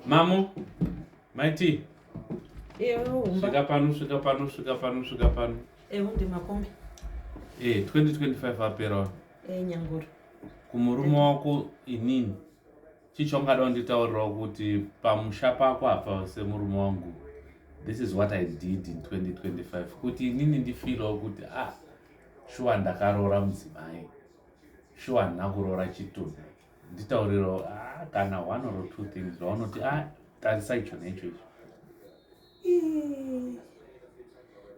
Mamo, maiti. Ewo, umba. Svika pano, svika pano, svika pano, svika pano. Ewo, ndi makombe. Eh, 2025 aperawa. Eh, nyanguru. Kumurume wako inini. Chichongada unditaurirawo kuti pamusha pako hapa semurume wangu. This is what I did in 2025. Kuti inini ndifilawo kuti ah, shuwa ndakaroora mudzimai. Shuwa ndinakuroora chitunha. nditaurirawo ah, kana one or two things zvaunoti a ah, tarisa icho necho icho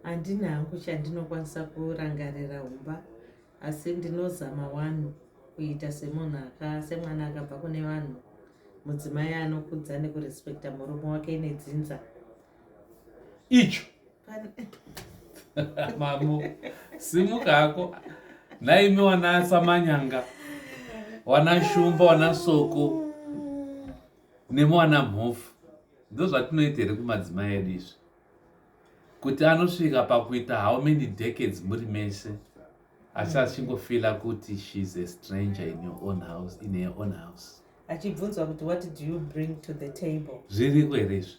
handina hangu chandinokwanisa kurangarira humba asi ndinozama wani kuita semunhu semwana akabva kune vanhu mudzimai anokudza nekurespekta murume wake nedzinza icho mambo simuka hako naimi wana samanyanga wana shumba wana soko nemi wana mhofu ndo zvatinoita here kumadzimai edu izvi kuti anosvika pakuita how many decades muri mese asi achingofila kuti shes a stranger in your own house in her own house achibvunzwa kuti what do you bring to the table zviriko here izvi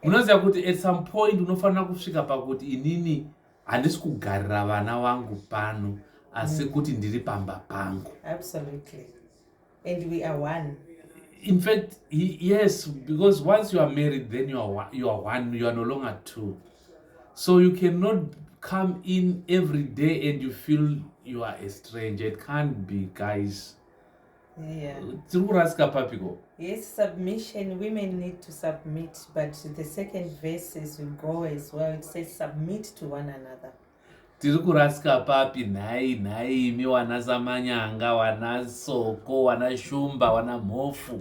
munoziva kuti at some point unofanira kusvika pakuti inini handisi kugarira vana vangu pano asi mm. kuti ndiri pamba pangu absolutely and we are one in fact he, yes because once you are married then you are, you are one you are no longer two so you cannot come in every day and you feel you are a stranger it can't be guys yeah. tiri kurasika papiko yes submission women need to submit but the second verse as we go as well it says submit to one another tiri kurasika papi nhai nhai imi wana samanyanga wana soko wana shumba wana mhofu